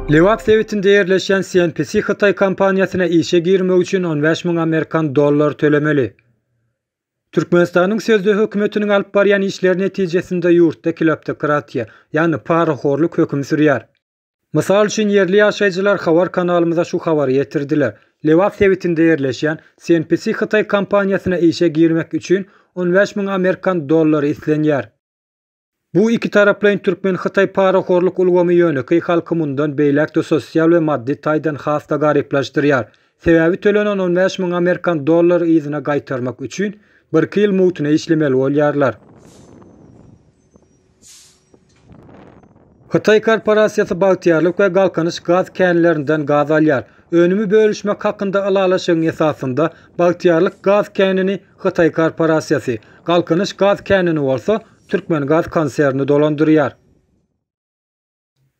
Lebap sebitinde ýerleşýän CNPC hytaý kompaniýasyna işe girmek üçin on bäş müň amerikan dollary tölemeli. Türkmenistanyň sözde hökümetiniň alyp barýan işleri netijesinde ýurtda kleptokratiýa, ýagny parahorlyk höküm sürýär. Mysal üçin, ýerli ýaşaýjylar habar kanalymyza şu habary ýetirdiler, Lebap sebitinde ýerleşýän CNPC hytaý kompaniýasyna işe girmek üçin on bäş müň amerikan dollary islenýär. Bu ikitaraplaýyn türkmen-hytaý parahorluk ulgamy ýönekeý halky mundan beýläk-de sosial we maddy taýdan has-da garyplaşdyrýar. Sebäbi tölenen on bäş müň amerikan dollary yzyna gaýtarmak üçin, birki ýyl mugtuna işlemeli bolýarlar. Hytaý korporasiýasy Bagtyýarlyk we Galkynyş gaz känlerinden gaz alýar. Önümi bölüşmek hakynda ylalaşygyň esasynda Bagtyýarlyk gaz känini Hytaý korporasiýasy Galkynyş gaz känini bolsa Türkmengaz konserni dolandyrýar.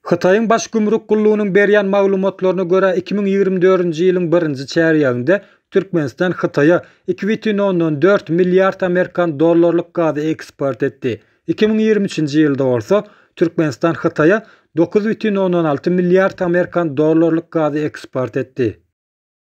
Hytaýyň Baş gümrük gullugynyň berýän maglumatlaryna görä, iki müň ýigrimi dördünji ýylyň birinji çärýeginde Türkmenistan Hytaýa iki bütin ondan dört milliard amerikan dollarlyk gazy eksport etdi. Iki müň ýigrimi üçünji ýylda bolsa, Türkmenistan Hytaýa dokuz bütin ondan alty milliard amerikan dollarlyk gazy eksport etdi.